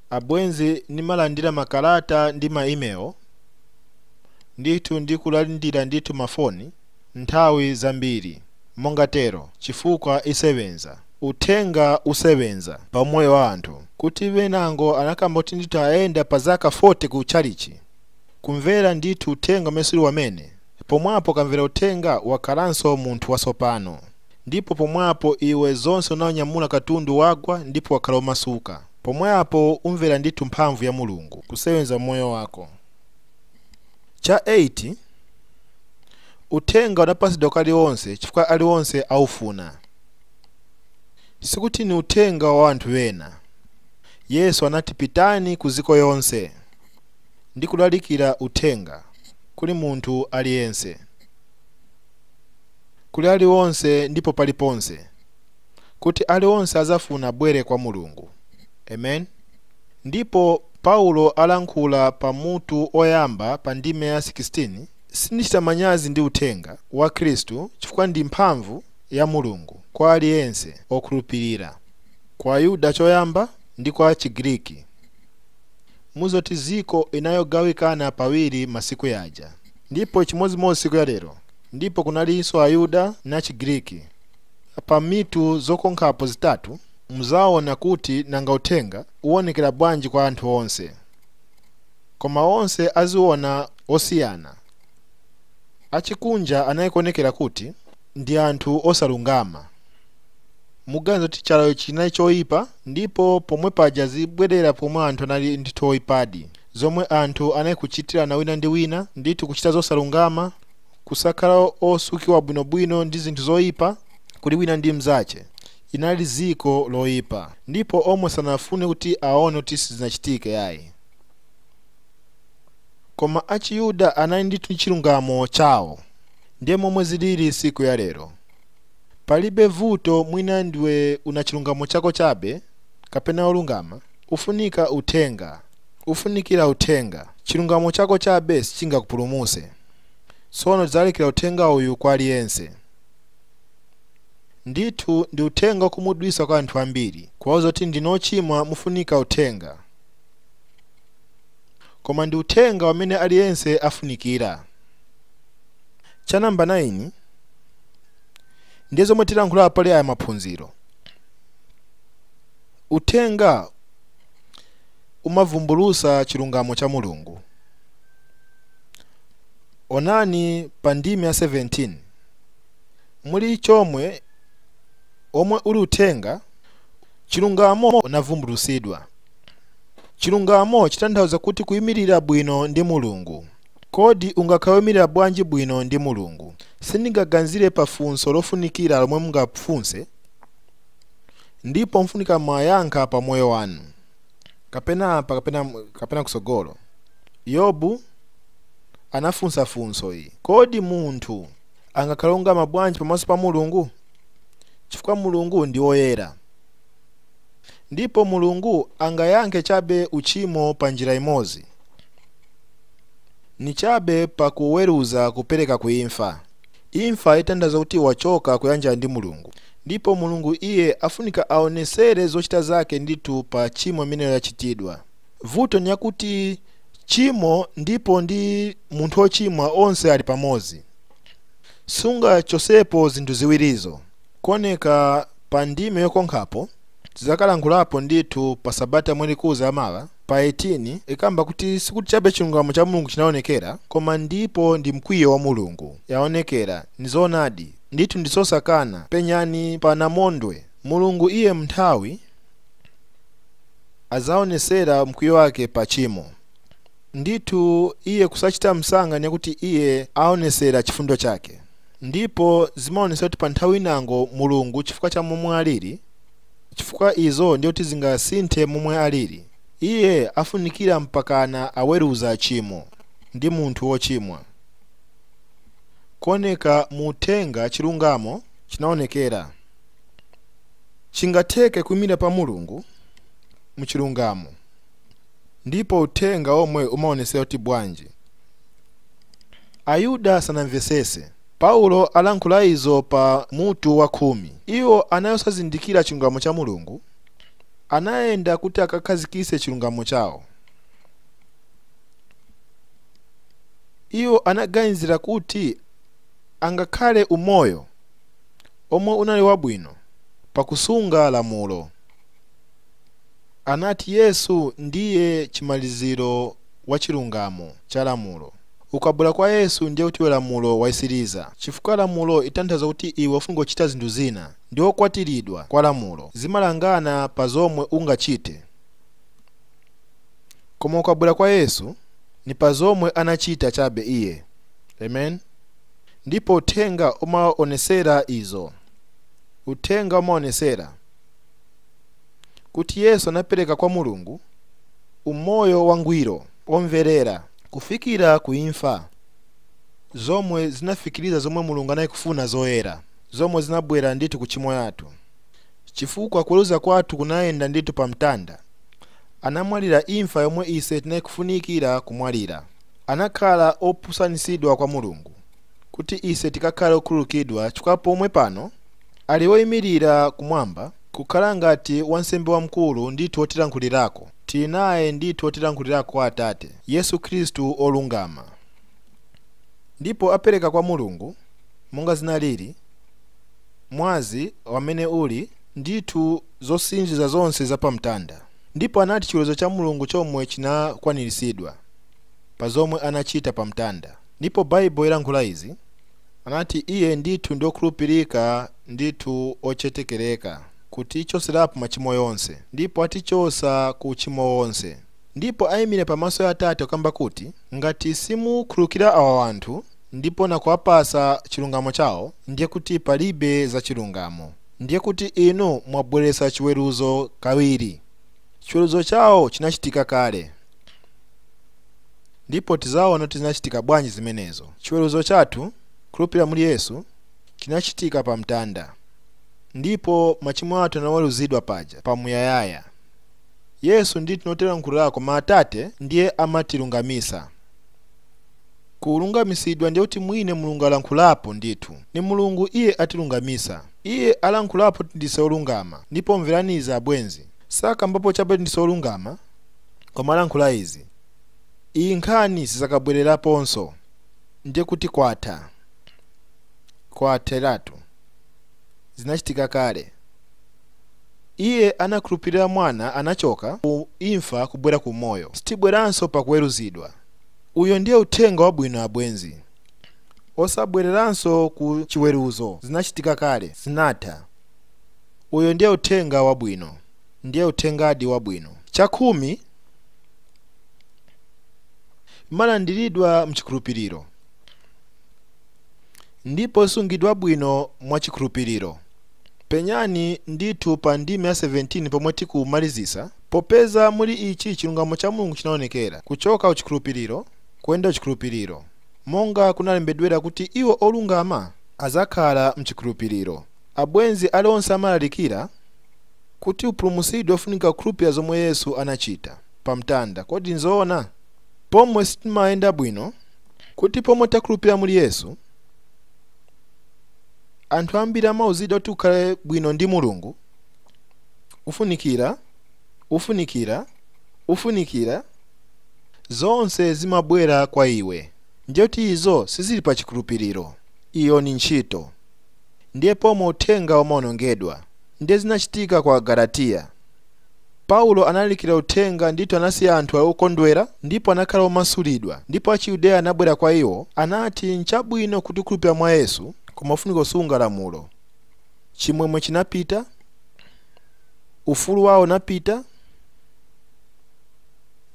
Abwenzi, nimalandira makalata ndi ma email, ndithu ndi kulandira ndithu mafoni. nthawi zambiri monga tero chifukwa isebenza, uthenga usebenza pa umoyo wa anthu, kuti benango anakamba kuti ndithu ayenda pa zaka fote ku chalichi, kumvera ndithu uthenga umene siuli wamene, pomwapo ukamvera uthenga wakhalanso munthu wasopano, ndipo pomwapo iwe zonse unaunyamula katundu wagwa ndipo wakhala omasuka, pomwapo umvera ndithu mphamvu ya Mulungu kusebenza umoyo wako. Cha 8 Uthenga unapatsidwa kwa alionse chifukwa alionse aufuna. Sikuti ni uthenga wa anthu ena. Yesu anati pitani ku ziko yonse ndi kulalikira uthenga kuli munthu aliyense, kuli alionse ndipo paliponse. kuti ali onse azafuna bwere kwa Mulungu. Amen. Ndipo Paulo alankhula pa mutu oyamba pa ndime ya 16, Sindichita manyazi ndi uthenga wa Khristu chifukwa ndi mphamvu ya Mulungu kwa ali yense okhulupirira, kwa Ayuda choyamba ndi kwa Chigiriki. Mudziwa kuti ziko inayogawikana pawiri masiku yaja, ndipo chimodzimodzi siku ya lero, ndipo kunalinso Ayuda na Chigiriki. Pa mitu zokonkhapo zitatu muzaona kuti nanga uthenga uonekera bwanji kwa anthu onse. Koma onse aziona osiyana. Achikunja anali kuonekera kuti ndi anthu osalungama. Muganiza kuti chalo icho chinali choipa ndipo pomwe paja zibwerera pomwe anthu anali ndithu oipadi. Zomwe anthu anali kuchitirana wina ndi wina ndithu kuchita zosalungama. kusakhala osukiwa bwinobwino ndi zinthu zoipa kuli wina ndi mnzache inali ziko loipa ndipo omwe sanafune kuti aone kuti sizinachitike yayi koma achiyuda anali ndithu ndi chilungamo chawo ndiye momwe zilili siku ya lero palibe vuto mwina ndiwe una chilungamo chako chabe kapena olungama ufunika uthenga ufunikira uthenga chilungamo chako chabe sichingakupulumuse Tsono tidzalalikira uthenga uyu kwa aliyense. Ndithu ndi uthenga wokhumudwitsa kwa anthu ambiri, kuwauza kuti ndinu ochimwa mufunika uthenga. Koma ndi uthenga wamene aliyense afunikira. Cha namba 9 ndiye zomwe tilankhula pali aya maphunziro. Uthenga umavumbulutsa chilungamo cha Mulungu. Onani pa ndime ya 17 muli chomwe omwe uli uthenga chilungamo unavumbulutsidwa. Chilungamo chitanthauza kuti kuyimirira bwino ndi Mulungu. Kodi ungakhale woyimirira bwanji bwino ndi Mulungu? Sindingaganzire pa funso lofunikira lomwe mungafunse ndipo mufunika mayankho pa moyo wanu. kapena apa kapena kusogolo yobu anafunsa funso iyi kodi munthu angakhala olungama bwanji pamaso pa mulungu chifukwa mulungu ndi woyera ndipo mulungu angayankhe chabe uchimo pa njira imodzi ni chabe pakuweruza kupereka kuimfa Imfa itanthauza kuti wachoka kuyanjana ndi Mulungu ndipo Mulungu iye afunika aonesere zochita zake ndithu pa chimo imeneyo yachitidwa. Vuto ni yakuti chimo ndipo ndi munthu ochimwa onse ali pamodzi. Sungachosepo zinthu ziwirizo. Kuoneka pa ndime yokonkhapo, tizakalankhulapo ndithu pa sabata yomwe ikuza ya mawa. pa 18 ikamba kuti sikuti chabe chilungamo cha Mulungu chinaonekera, koma ndipo ndi mkwiyo wa Mulungu. yaonekera. Nizoonadi, ndithu ndizosakana, penyani pa namondwe, Mulungu iye m'nthawi adzaonesera mkwiyo wake pa chimo. Ndithu iye kusachita msanga ni yakuti iye aonesera chifundo chake. Ndipo zimaonesera kuti pa nthawi inango Mulungu chifukwa cha momwe aliri, chifukwa izo ndiye kuti zingasinthe momwe alili. Iye afunikira mpakana aweruza chimo ndi munthu wochimwa. Kuoneka mu uthenga chilungamo chinaonekera. Chingatheke kuimira pa Mulungu mu chilungamo ndipo uthenga omwe umaonesera kuti bwanji Ayuda sanamvesese. Paulo alankhula izo pa mutu wa kumi. Iwo anali osazindikira chilungamo cha Mulungu, anayenda kuti akakhazikise chilungamo chawo. Iwo anaganizira kuti angakhale umoyo omwe unali wabwino pakusunga lamulo. Anati Yesu ndiye chimaliziro wa chilungamo cha lamulo. Ukabwera kwa Yesu ndiye kuti iwe lamulo wayisiliza chifukwa lamulo itanthaza kuti iwe ufunika kuchita zinthu zina ndi okwatiridwa kwa lamulo zimalangana pa zomwe ungachite koma ukabwera kwa Yesu ni pa zomwe anachita chabe iye. Amen. Ndipo uthenga umaonesera izo. Uthenga umaonesera. kuti Yesu anapereka kwa Mulungu umoyo wangwiro, omverera kufikira ku imfa, zomwe zinafikiriza zomwe Mulungu anali kufuna zoyera, zomwe zinabwera ndithu ku chimo yathu, chifukwa kuweruza kwathu kunayenda ndithu pa mtanda, anamwalira imfa yomwe ise tinali kufunikira kumwalira, anakhala opusanisidwa kwa Mulungu, kuti ise tikakhale okhululukidwa, chifukwa pomwe pano ali oimilira kumwamba, Kukhala ngati wansembe wamkulu ndithu wotilankhulirako, tili naye ndithu wotilankhulirako kwa Atate, Yesu Khristu olungama. Ndipo apereka kwa Mulungu, monga zinaliri, mwazi, wamene uli, ndithu, zosinjiza zonse za pa mtanda. Ndipo anati chiweruzo cha Mulungu chomwe chinakwaniritsidwa, pa zomwe anachita pa mtanda. Ndipo Baibulo ilankhula izi, Anati iye, Ndithu ndi okhulupirika, ndithu ochetekereka, kutichotserapo machimo yonse, ndipo atichosa ku uchimo wonse, ndipo aimire pamaso ya Atate kukamba kuti, Ngati simukhululukira awa wanthu ndipo na kuwapasa chilungamo chao, ndiye kuti palibe za chilungamo, ndiye kuti inu mwabweretsa chiweruzo kawiri. Chiweruzo chao chinachitika kale. ndipo tizaona kuti zinachitika bwanji zimenezo chiweruzo chathu khulupirira muli yesu chinachitika pa mtanda ndipo machimo athu anaweruzidwa paja pamuyayaya yesu ndithu notilankhulirako koma atate ndiye amatilungamisa kulungamisidwa ndiye kuti mwine mulungu alankhulapo ndithu ni mulungu iye atilungamisa iye alankhulapo kuti ndise olungama ndipo mverani izi abwenzi sakambapo chabe kuti ndise olungama koma alankhula izi iyi nkhani sizakabwereraponso ndiye kuti kwatha kwatheratu zinachitika kale iye wakukhulupirira mwana anachoka ku imfa kubwera ku moyo sitibweranso pakuweruzidwa uyo ndiye uthenga wabwino abwenzi osabwereranso ku chiweruzo zinachitika kale zinatha uyo ndiye uthenga wabwino ndiye uthengadi wabwino. Chakhumi imalandiridwa mchikhulupiriro ndipo isungidwa bwino mwa chikhulupiriro. Penyani ndithu pa ndime ya 17 pomwe tikumalizisa, Popeza muli ichi chilungamo cha Mulungu chinaonekera, kuchoka ku chikhulupiriro kuyenda ku chikhulupiriro, monga kunalembedwera kuti iwo olungama azakhala mchikhulupiriro. Abwenzi aliyense amalalikira? Kuti upulumutsidwe ufunika kukhulupilira zomwe Yesu anachita pa mtanda, kodi nzoona? Pomwe sitimayenda bwino, kuti pomwe takhulupilira muli Yesu, anthu ambiri amauzidwa kuti ukhale bwino ndi Mulungu, ufunikira, ufunikira, ufunikira, zonse zimabwera kwa iwe, ndiye kuti izo sizili pa chikhulupiliro, iyo ni ntchito. Ndiye pomwe uthenga umaonongedwa. Ndiye zinachitika kwa Agalatiya. Paulo analalikira uthenga ndithu anasiya anthu ali okondwera ndipo anakhala omasulidwa ndipo achiyudeya anabwera kwa iwo anati nchabwino kuti ukhulupirira mwa Yesu koma ufunika kusunga lamulo. Chimwemwe chinapita. Ufulu wawo unapita.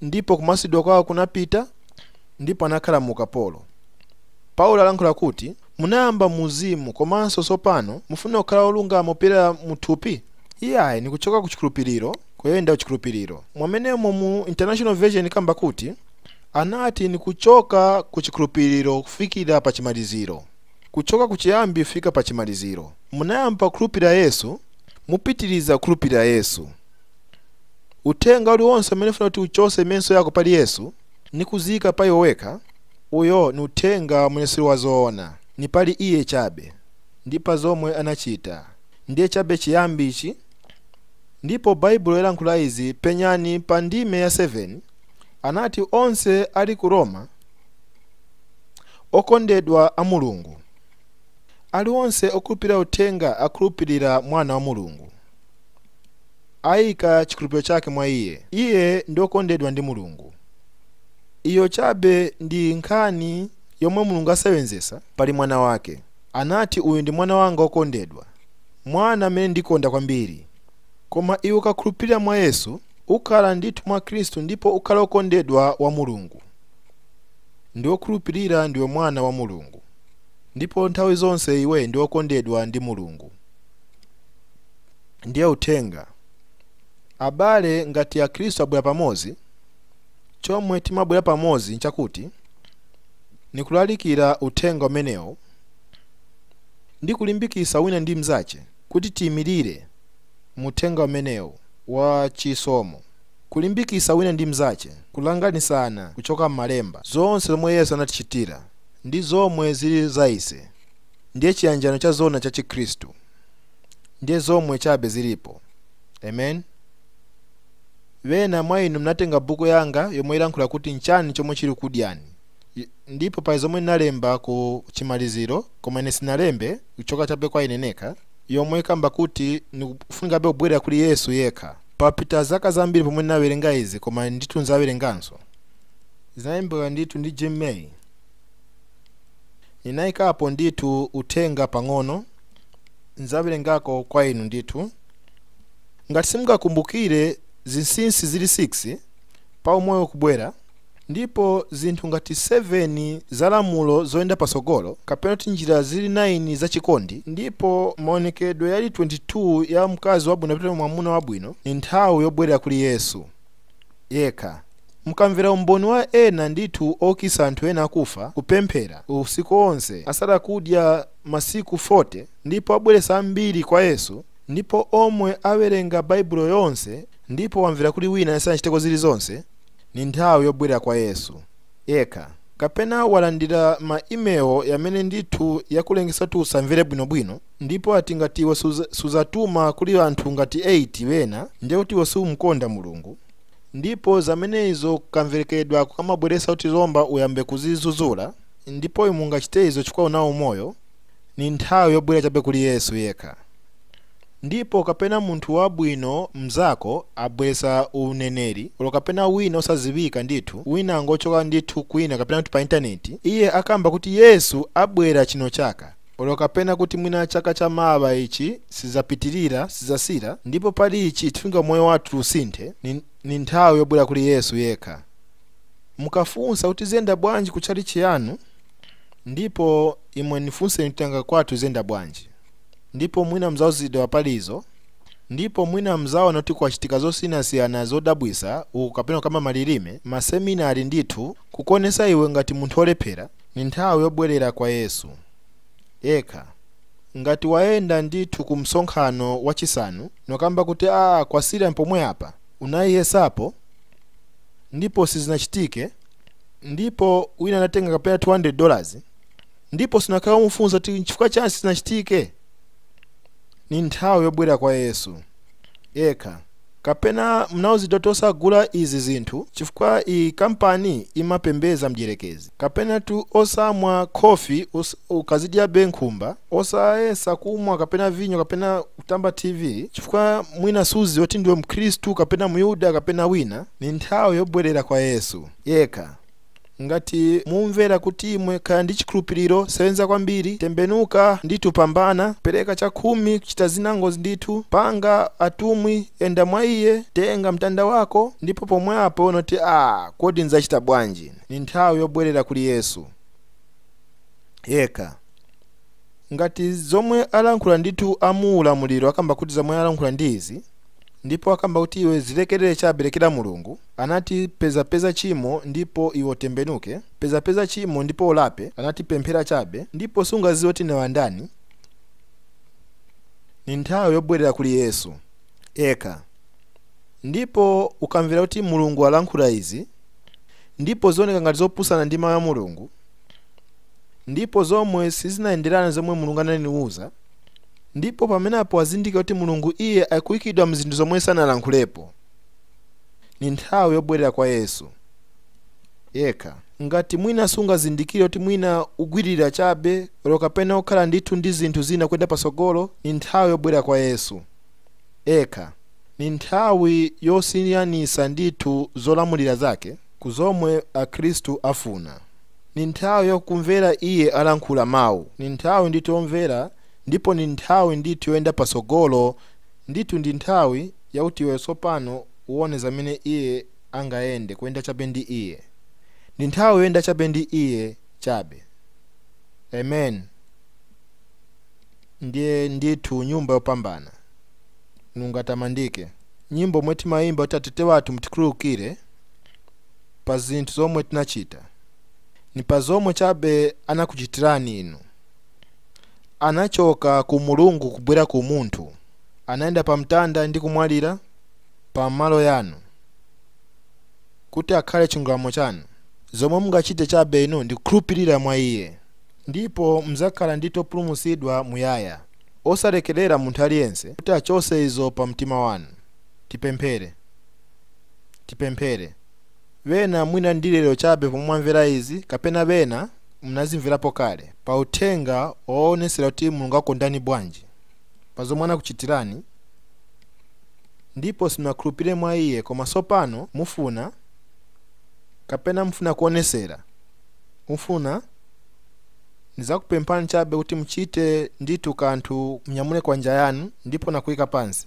Ndipo kumasulidwa kwawo kunapita ndipo anakhala mu ukapolo. Paulo alankhula kuti Munayamba mu uzimu komanso tsopano mufuna kukhala wolungama kupyolera mu thupi? Iyayi, ni kuchoka ku chikhulupiliro kuyenda ku chikhulupiliro. Mwamene umo mu New International Version ikamba kuti, Anati ni kuchoka ku chikhulupiliro kufikira pa chimaliziro, kuchoka ku chiyambi kufika pa chimaliziro. Munayamba kukhulupilira Yesu, mupitiliza kukhulupilira Yesu. Uthenga uliwonse umene ufuna kuti uchose menso yako pali Yesu ni kuziika pa iwe wekha, Uyo ni uthenga umene siuli wa zoona. Ni pali iye chabe, ndi pa zomwe anachita. Ndiye chabe chiyambi ichi. Ndipo Baibulo yalankhula izi, penyani pa ndime ya 7, anati, Onse ali ku Roma, okondedwa a Mulungu, ali onse okhulupirira Uthenga akhulupirira Mwana wa Mulungu. ayika chikhulupiriro chake mwa Iye, iye ndi okondedwa ndi Mulungu. Iyo chabe ndi nkhani yomwe Mulungu asewenzesa pali mwana wake. Anati, Uyu ndi mwana wanga okondedwa, mwana amene ndikonda kwambiri. Koma iwe ukakhulupirira mwa Yesu, ukhala ndithu mwa Kristu ndipo ukhala okondedwa wa Mulungu. Ndi okhulupirira ndiwe mwana wa Mulungu. Ndipo nthawi zonse iwe ndi okondedwa ndi Mulungu. ndiye uthenga abale ngati akhristu abwera pamodzi chomwe timabwera pamodzi nchakuti ni kulalikira uthenga umenewu ndi kulimbikitsa wina ndi mnzace kuti tiyimirire mu uthenga umenewu wa chisomo kulimbikitsa wina ndi mnzace kulanganisana kuchoka m'malemba zonse zomwe yesu anatichitira ndi zomwe zili za ise ndiye chiyanjano cha zoona cha chikhristu ndiye zomwe chabe zilipo. Amen. Bena mwa inu mnatenga buku yanga yomwe ilankhula kuti nchani chomwe chili kudyani. Ndipo pa zomwe ninalemba ku chimaliziro koma ine sinalembe kuchoka chabe kwa ine nekha yomwe ikamba kuti nikufunikabe kubwerera kuli Yesu yekha. Papita zaka zambiri pomwe ndinawerenga izi koma ndithu nzawerenganso. Zinalembedwa ndithu ndi Jim May. Ninaikapo ndithu uthenga pang'ono, nzawerengako kwa inu ndithu. Ngati simungakumbukire zinsinsi zili 6 pa umoyo kubwera, ndipo zinthu ngati 7 za lamulo zoyenda patsogolo, kapena kuti njira zili 9 za chikondi, ndipo maonekedwe yali 22 ya mkazi wabwino kapena mwamuna wabwino, ni nthawi yobwerera kuli Yesu. yekha. Mukamvera umboni wa ena ndithu oukitsa anthu ena akufa, kupemphera usiku onse, asala kudya masiku 40, ndipo abweretsa ambiri kwa Yesu, ndipo omwe awerenga Baibulo yonse ndipo wamvera kuli wina asanachiteko zili zonse, ni nthawi yobwelera kwa Yesu yekha. Kapena walandira ma email yamene ndithu yakulengesa kuti usamvere bwino bwino? Ndipo ati ngati iwe suzatuma kuli anthu ngati 8 bena, ndiye kuti iwe siumkonda Mulungu. Ndipo zamene izo kamverekedwe kake kamabweresa kuti lomba uyambe kuzizuzula, ndipo imwe mungachite izo chifukwa unawo umoyo, ni nthawi yobwera chabe kuli Yesu yekha. Ndipo kapena munthu wabwino mzako abweresa uneneri, olo kapena wina osazibika ndithu, wina angochoka ndithu kwina kapena kuti pa intaneti, iye akamba kuti Yesu abwera chino chaka, olo kapena kuti mwina chaka cha mawa ichi sizapitirira sizasila ndipo pali ichi tifunika moyo wathu usinthe ni nthawi yobwera kuli yesu yekha mukafunsa kuti ziyenda bwanji ku tchalitchi yanu ndipo imwe nifunseni kuti nanga kwathu ziyenda bwanji ndipo mwina mzauzidwa palizo ndipo mwina mzaona kuti kwachitika zosiyanasiyana zodabwisa uku kapena kukamba malilime maseminari ndithu kukonesa iwe ngati munthu olephera Ni nthawi yobwelela kwa Yesu yekha. Ngati wayenda ndithu ku msonkhano wa Cisanu nokamba kuti aah kwasila pomwe apa, unayiyesapo ndipo sizinacitike, ndipo wina anatenga kapena 200 dollars ndipo sunakhale wamufunsa kuti n'cifukwa ciani sizinacitike? Ni nthawi yobwelela kwa Yesu yekha. Kapena mnauzidwa kuti osagula izi zinthu chifukwa iyi kampani imapembeza mdyerekezi. Kapena tu osamwa khofi ukazidyabe nkhumba. Osayesa kumwa kapena vinyo kapena kutamba TV chifukwa mwina suziwa kuti ndiwe mkhristu kapena myuda kapena wina. Ni nthawi yobwerera kwa Yesu yekha. Ngati mumvera kuti imwe khala ndi chikhulupiriro, sewenza kwambiri, tembenuka ndithu pambana, pereka chakhumi, chita zinangu ndithu, panga atumwi, yenda mwa iye, tenga mtanda wako, ndipo pomwe apo unoti ah kodi nzachita bwanji? Ni nthawi yobwerera kuli Yesu yekha. Ngati zomwe alankhula ndithu amuulamuliro akamba kuti zomwe alankhula ndi izi, ndipo akamba kuti iwe zilekelele chabe lekela Mulungu, anati peza peza chimo ndipo iwe utembenuke, peza peza chimo ndipo ulape, anati pemphera chabe ndipo sungaziwe kuti ndiwe ndani, ndi nthawi yobwelela kuli Yesu eka ndipo ukamvela kuti Mulungu alankhula izi ndipo zioneka ngati zopusana ndi mau ya Mulungu, ndipo zomwe sizinayenderane zomwe mulungu ananiuza ndipo pamenepo wazindikira kuti mulungu iye akuyikidwa mzinthu zomwe sanalankhulepo ni nthawi yobwerera kwa yesu yekha ngati mwina sungazindikire kuti mwina ugwirira chabe olo kapena ukhala ndithu ndi zinthu zina kuyenda patsogolo ni nthawi yobwerera kwa yesu ekha. Ni nthawi yosiyanisa ndithu zolamulira zake ku zomwe akhristu afuna. Ni nthawi ya kumvera iye alankhula mau. Ni nthawi ndithu yomvera ndipo ni nthawi ndithu yoyenda patsogolo ndithu ndi nthawi yakuti iwe tsopano uone zamene iye angayende kuyenda chabe ndi iye. Ni nthawi yoyenda chabe ndi iye chabe. Amen. ndiye ndithu nyumba yopambana mulungu atamandike nyimbo omwe timayimba kuti atate wathu mutikhululukire pa zinthu zomwe tinachita ni pa zomwe chabe anakuchitirani inu anachoka ku mulungu kubwera ku munthu anayenda pa mtanda ndi kumwalira pa malo yanu kuti akhale chilungamo chanu zomwe mungachite chabe inu ndi kukhulupirira mwa iye ndipo mzakhala ndithu opulumutsidwa muyaya. Osalekelera munthu aliyense kuti achose izo pa mtima wanu. Tipemphere. Tipemphere. Bena mwina ndi lero chabe pomwe mwamvera izi, kapena bena mnazimverapo kale, pa uthenga owonesera kuti Mulungu akondani bwanji, pa zomwe anakuchitirani, ndipo simunakhulupire mwa iye koma sopano mufuna, kapena mufuna kuonesera, mufuna, ndizakupemphani chabe kuti muchite ndithu kanthu, munyamule kwanja yanu ndipo nakuika pansi.